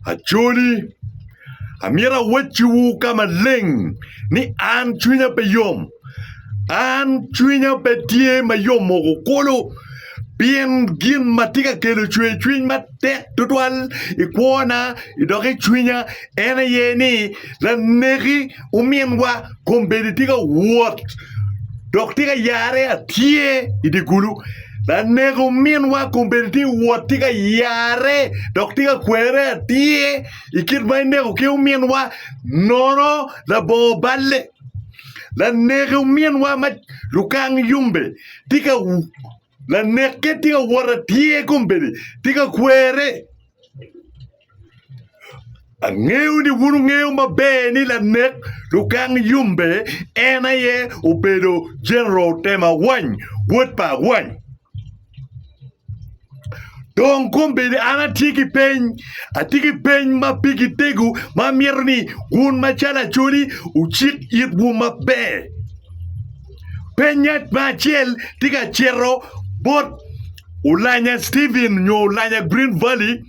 Acholi, amito awacciwu ka maleng ni an cwinya pe yom. An cwinya pe tye ma yom moko kulu pien gin ma tye ka kelo cwercwiny matek tutwal i kwona dok i cwinya en aye ni laneki Ominwa kombeddi tye ka wot dok tye ka yare atye i dye gulu. Lanek ominwa kombeddi tye ka wot tye ka yare dok tye ka kwere atye i kit ma ineko ki ominwa nono labongo balle. Lanek ominwa ma lukang yombe tye ka lanekke tye ka wot atye kombeddi tye ka kwere. Angeyo ni wun wungeyo maber ni lanek Lukang Yumbe en aye obedo Jeneral Tem Awany, wod pa Awany. Dong kombeddi an atye ki peny, atye ki peny ma pigi tego ma amito ni wun macalo Acholi wucik itwu maber. Penya me acel tye ka cito bot Olanya Stephen nyo Olanya Green Valley.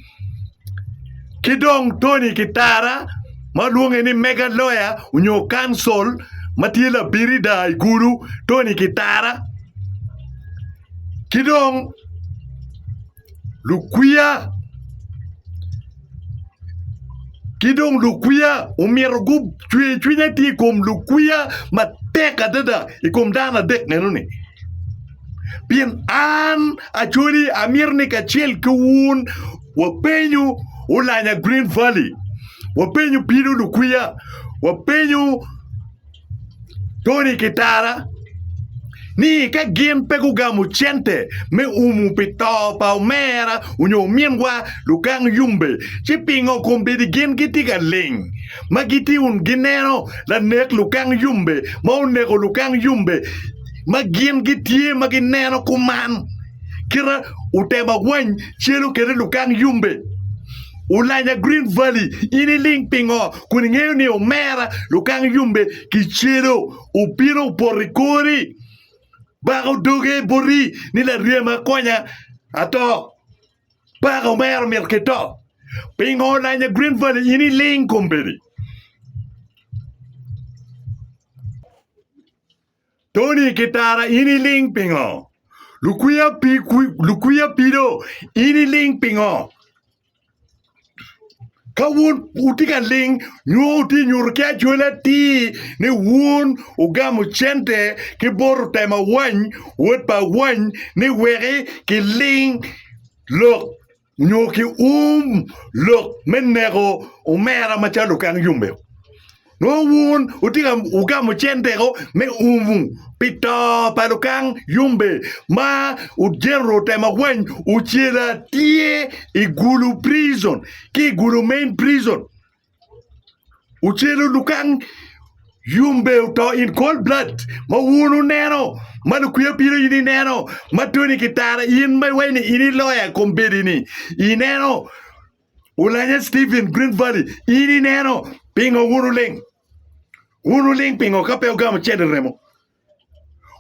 Ki dong Tony Kitara ma lwonge ni Mega Lawyer nyo Counsel ma tye labirida i kulu Tony Kitara ki dong lukwiya ki dong lukwiya omyero gucwe cwiny atir i kom lukwiya matek adada i kom dano adek meno ni. Pien an Acholi amito ni kacel ki wun wapenyu Olanya Green Valley, wapenyu Pino Lukwiya, wapenyu Tony Kitara ni ka gin pe gugamo cente me umu pi to pa omera onyo ominwa Lukang Yumbe ci pingo kombeddi gin gitye ka ling ma gitye wun gineno lanek Lukang Yumbe ma oneko Lukang Yumbe ma gin gitye ma gineno kuman. Kite uteba wany celu kede lukang yumbe. Ulanya Green Valley, in iling pingo kun ingeyo ni omera lukang yumbe kicelo obino opoto i kori? Bako doge boti ni laryema konya ato. Bako omera omito ki to. Pingo olanya Green Valley in iling kombedi? Tony ki Tara in iling pingo? Lukwiya pi lukwiya pido in iling pingo? Ka wun wutye ka ling nyo wutye nyuto ki acwele atir ni wun wugamo cente ki bot otem awany wod pa awany ni weki kiling lok nyo ki um lok me neko omera macalo okang yomeo. Nongo wun wutye ka wugamo centego me umu pi to pa lukang yombe ma Genro otemo wany ocele atir i Gulu prison ki i Gulu main prison. ocelo dukan yombe oto in cold blood ma wun wuneno ma lukwiya bino in ineno ma Tony Kitara in ma iwaco ni in i loya i kombeddi-ni ineno Olanya Stephen Green Valley in ineno pingo wun wuling wun wuling pingo ka pe wugamo cente remo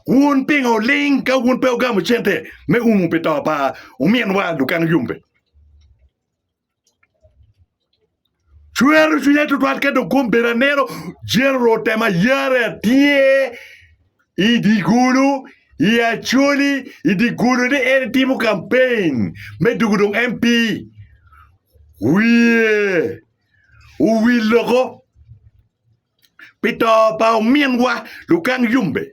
wun pingo wuling ka wun pe wugamo cente me umu pi to pa ominwa dukan yombe. Cwero cwinya tutwal ka dong kom bedo aneno jiro rote ma yare tye i dye gulu i Acholi i dye gulu ni en timo kampen me doko dong MP wiye owil loko pi to pa ominwa Lukang Yombe.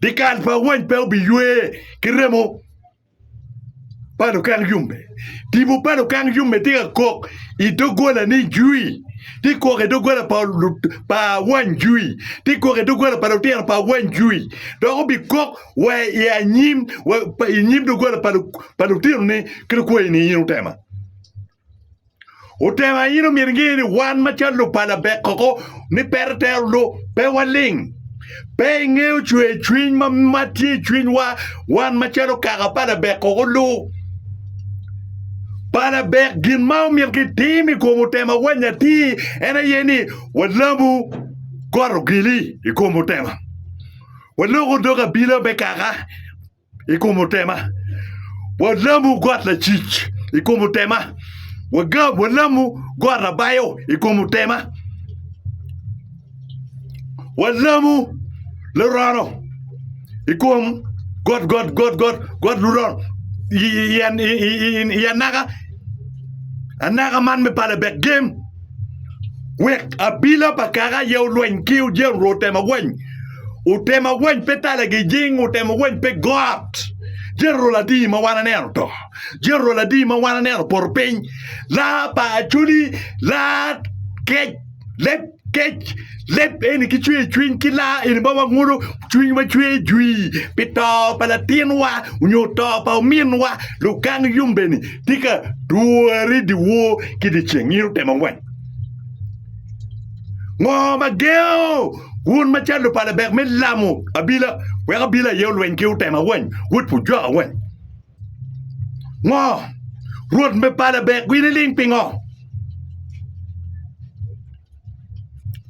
Dikal pa awany pe obiywe ki remo pa lukang yombe. Tipo pa lukang yombe tye ka kok i doggola ni jwi. Tye kok i doggola pa, pa awany jwi. Tye kok i doggola pa lutino pa awany jwi. Dok obikok wa i anyim, wa i nyim doggola pa, pa lutino ni, kit okwayi ni in otema. Otemo aye ni omyero inge ni wan macalo lupala bek koko ni peto tero lu pe waling. Pe ingeyo cwer cwiny ma ma tye i cwinywa wan macalo kaka pa labek koko lu. Pa labek gin ma omyero kitim i kom otema wany atir en aye ni walabu got ogili i kom otema. Waloko dog abila me kaka i kom otema, walamo got lacic i kom otema, wagam walamo got labayo i kom otema, walamo lurono i kom got got got got got lurono i anaka anaka man me pala bek gem. wek abila pa kaka aye olweny ki ojel rwo otema weny otema weny pe talagi jing otema weny pe got jel rwo ladii ma wan aneno to jel rwo ladii ma wan aneno poto piny laa pa acoli laa kec leb kec leb eni ki cwer cwiny ki laa eni ba wangudo Cwinywa cwer jwi pi to pa latinwa onyo to pa ominwa, lugang yumbeni tye ka dwori dyewor ki dyeceng. In otemo wang ngo ma gengo wun ma calo lupala bek me lamo abila wek abila aye olweny ki otema wany, wod pu jwaka wany? Ngo Rwot me pala bek winiling pingo?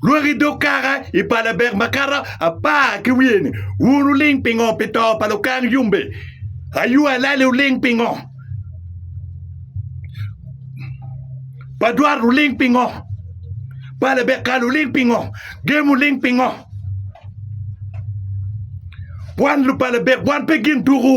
Lwak i dog kaka i pa labek makato apar ki wiye-ni, wun wuling pingo pi to pa lukang yombe? Ayu alali wuling pingo? Pa dwat wuling pingo? Pa labek kal wuling pingo? Gem wuling pingo? Wan lupalabek, wan pe gin tuku.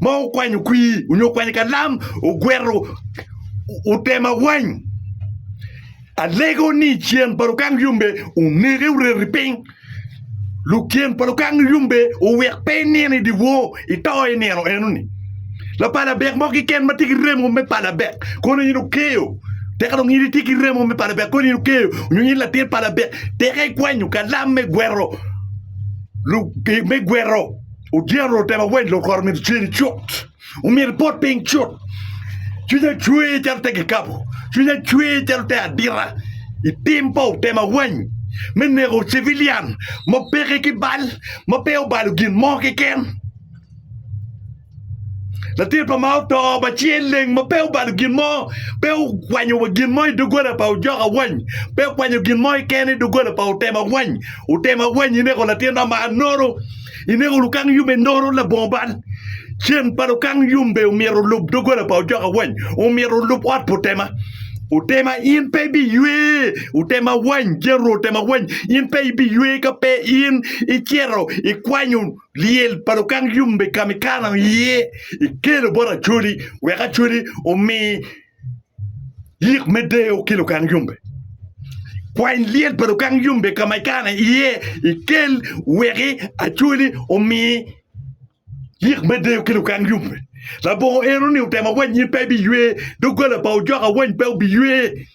ma okwanyo kwir onyo okwanyo kalam ogwero otema wany alego ni ceng pa lukang yombe onege oreti piny luceng pa lukang yombe owek pe inino i dyewor ito i nino eno ni lapala dek mo kiken ma tye ki remo me pala dek kono in okeyo teka dong in itye ki remo me pala dek kono in okeyo onyo in latin pala dek teka ikwanyo kalam me gwero me gwero Odyero otema weny lokoro omyero ceri cut, omyero ibot piny cut. Cwinya cwer calo te kikapo, cwinya cwer calo te adita i tim pa otema weny me neko civilian ma peke ki bal, ma pe obalo gin mo keken. Latin pa Mao oto ma ci eleng ma pe obalo gin mo, pe okwanyo wa gin mo i doggola pa ojoka weny, pe okwanyo gin mo keken i doggola pa otema weny. Otema weny ineko latinna ma anonu. I nego lukang yub enoro labongo bal. Cen pa lukang yumbe omyero olub doggola pa ocoka wany omyero olub ot pa otema. Otema in pe ibiywe, otema wany, General otema wany, in pe ibiywe ka pe in icito ikwanyo lyel pa lukang yumbe ka mikano iye ikelo bot Acholi wek Acholi omi Yik me deyo ki lukang yombe. Kwany lyel pa lukang yombe ka ma ikano iye ikel weki acwali omi yik me deyo ki lukang yombe. Labongo eno ni otemo awany in pe ibiywe, doggola pa ojoka awany pe obiywe.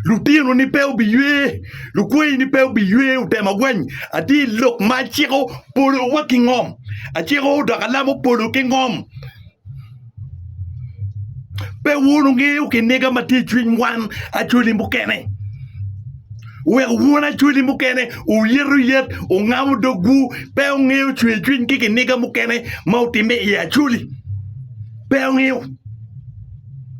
Lutinoni pe obiywe, lukwayini pe obiywe, otemo gweny ati i lok ma aciko polowa ki ngom, aciko dok alamo polo ki ngom. Pe wun wungeyo kiniga ma tye i cwiny wan acwali mukene. Wek wun acwali mukene oyet oyet, ongamo dogwu, pe wungeyo cwercwiny ki kiniga mukene ma otimme i acwali. Pe wungeyo.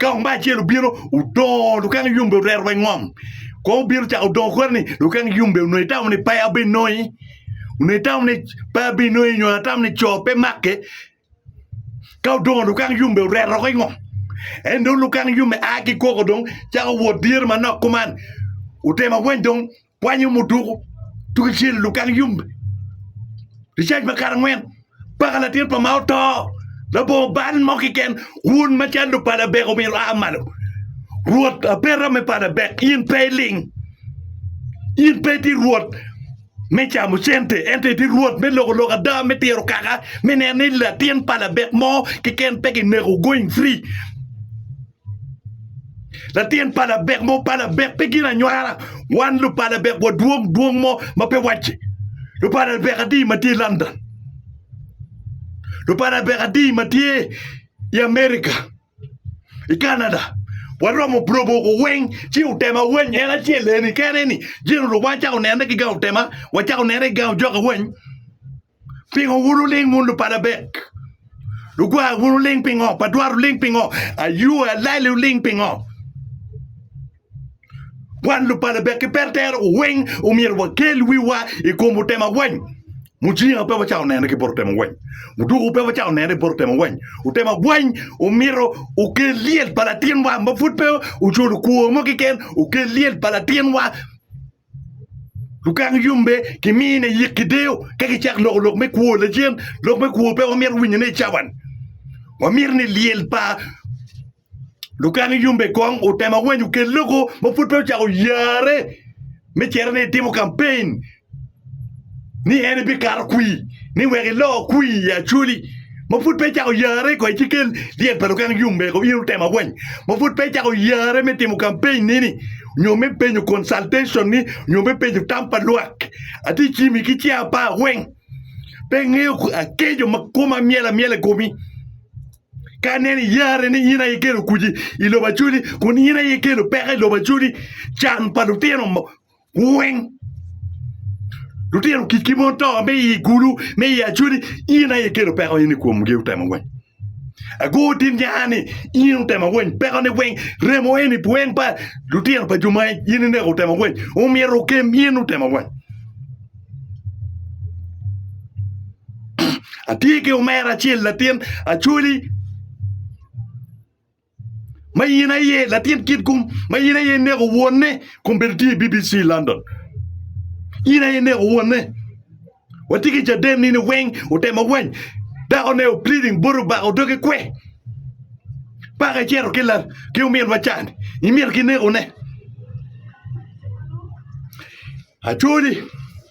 Ka omba acel obino odongo lukang yombe orero wa i ngom. Kong obino cako dongo kore ni lukang yombe onongo itamo ni pe abinongi. Onongo itamo ni pe abinongi nyo atamo ni co pe make. Ka odongo lukang yombe orero woko i ngom. En dong lukang yombe a ki koko dong cako wot dyere manok kuman. Otemo awany dong Kwanyo muduku tuge cel i lugang yombe. Ricac pa kare angwen, paka latin pa ma oto, labongo bal mo kiken, wun ma cal lupa Labek omyero wua malo. Rwot abeta me pa Labek, in pe iling. In pe iti rwot me camo cente, ento iti rwot me loko lok ada, me tiro kaka, me neno ni latin pa Labek mo kiken pe kineko going free. Latin pa labek mo pa labek pe gin anywara. Wan lupa labek wadwong dwong mo ma pe wacce. Lupa labek adi ma tye London. Lupa labek adi ma tye i Amerika, i Canada. Waromo brobo ko weng ci otema weng en acel eni kene ni jin orubwa cako nene ki gang otema, wacako nene ki gang ojoka weng. Pingo wun wuling wun lubal abek? Lugwar wun wuling pingo? Badwar wuling pingo? Ayue alali wuling pingo? Wan lubal abek ki pertero weng omyero wakel wiwa i kom otema weny. Mucinga pe wacawo nene ki bot otema weny. Muduku pe wacawo nene i bot otema weny. Otema weny omyero okel lyel pa latinwa ma pud pe oculo kwo mo kiken, okel lyel pa latinwa Lukak yombe gimiyo ne yik ki deyo ka gicako loko lok me kwo. Lacen, lok me kwo pe wamito winyone i cawan. Wamito ni lyel pa lukak yombe kong otem awany okel loko ma pud pe ocako yarre me cito ni itimo kampen. ni en bikato kwir ni wek iloo kwir i Acholi ma pud pe icako yarre kong ci kel dyet pa lukang yung mego in otemo awany ma pud pe icako yarre me timo campaign ni ni nyo me penyo consultation ni nyo me penyo tam pa lwak atye cimi ki cinga apar weng pe angeyo akeco ma koma myel amyel i komi ka aneno iyarre ni in aye ikelo kuc i lobo Acholi kun in aye ikelo peko i lobo Acholi can pa lutino weng lutino kicki mon to me i gulu me i acwedi in aye ikelo peko in i komgi utemo weng agur tin nya ni in utemo weng peko ni weng remo eni weng pa lutino pa juma in ineko utemo weng omyero okem in utemo weng atye ki omera acel latin acwodi ma in aye latin kit kum ma in aye ineko wonne kun bedo tye i BBC London in aye ineko wonne watye ki caden nini weng otemo wany dakone o pleading bot obako doge kwe paka icito ki la ki ominwa can imito kinekone acoli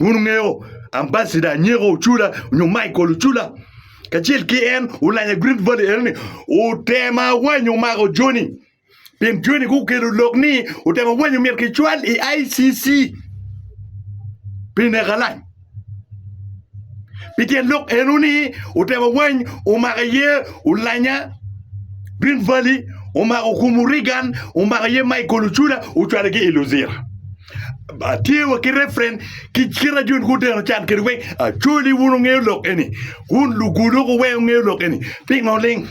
Wun wungeyo Ambassador Anyeko Ocula nyo Michael Ocula kacel ki en olanya i Green Valley enoni otemo awanyo mako joni pien joni gukelo lok ni otemo awanyo myero kicwal i ICC pi neko alany. Pi tyen lok eno ni otewa wany omako aye Olanya, Green Valley, omako Okumu Reagan, omako aye Michael Ochula ocwalo ki i Luzira. Tye wa ki reference ki kit ajo ni guteno can kede weng. Acholi wun wungeyo lok eni. Wun lugulu weng wungeyo lok eni. Pingo ling?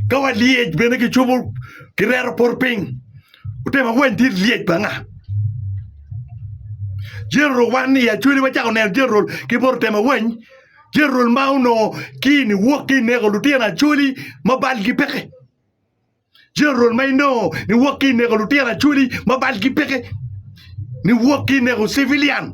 Ka walyec bene kicubo kireto poto piny, ote ma wany dit lyec pa nga? General wan i Acholi wacako neno General ki poto te ma wany? General ma onongo ki ni wok ki neko lutino Acholi ma balgi peke. General ma inongo ni wok ki neko lutino Acholi ma balgi peke. Ni wok ki neko civilian.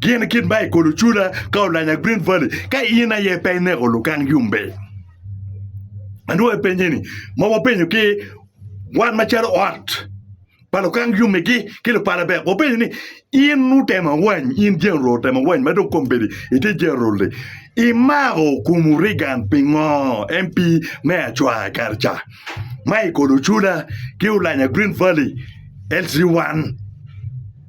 Gin kit ma i kolo cula ka olanya Green Valley ka in aye pe ineko lukang yumbe. Anwoyo penye ni ma wapenyo ki wan macalo ot pa lukang yumigi ki lupala bek wapenyo ni in utemo awany in general otemo awany ma dong kombedi iti general ni imako kum Reagan pingo MP me acwa kare ca ma i kolo cula ki olanya Green Valley LC1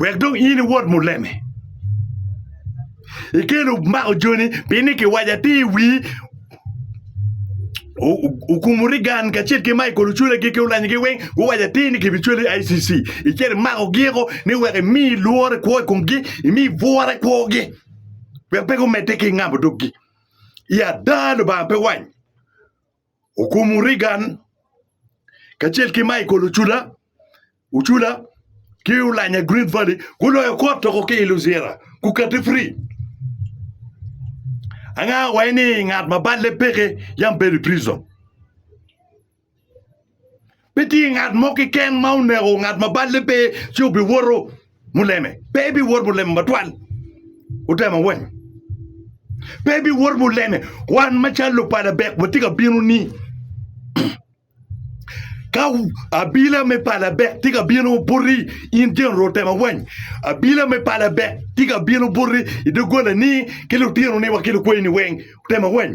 Wek dong in iwot muleme. Ikelo mako joni pinni kiwaco atir i wi okumu rigan kacel ki Michael Ochule gi ki olanyogi weng guwaco atir ni gibicwele i ICC icel imakogi o ni wek imi lworo kwo i komgi imi bwura kwogi wek pe gumedde ki ngamo doggi. I ada Lubanga pe wany. Okumo Reagan kacel ki Michael Ocula, Ocula ki Olanya Green Valley guloyo kot toko ki i Luzira gukati fri. Anga waye ni ngat ma balle peke yam bedo i prison. Pe tye ngat mo keken ma oneko ngat ma balle pe ci obiwoto muleme. Pe ebiwot muleme matwal. Otemo weny. Pe ebiwot muleme. Wan macalo lupa Labek watye ka bino ni ka abila me pa Labek tye ka bino buti in General Otemo weny, abila me pa Labek tye ka bino buti i doggolani ki lutinoni wa ki lukweyini weng. Otemo weny.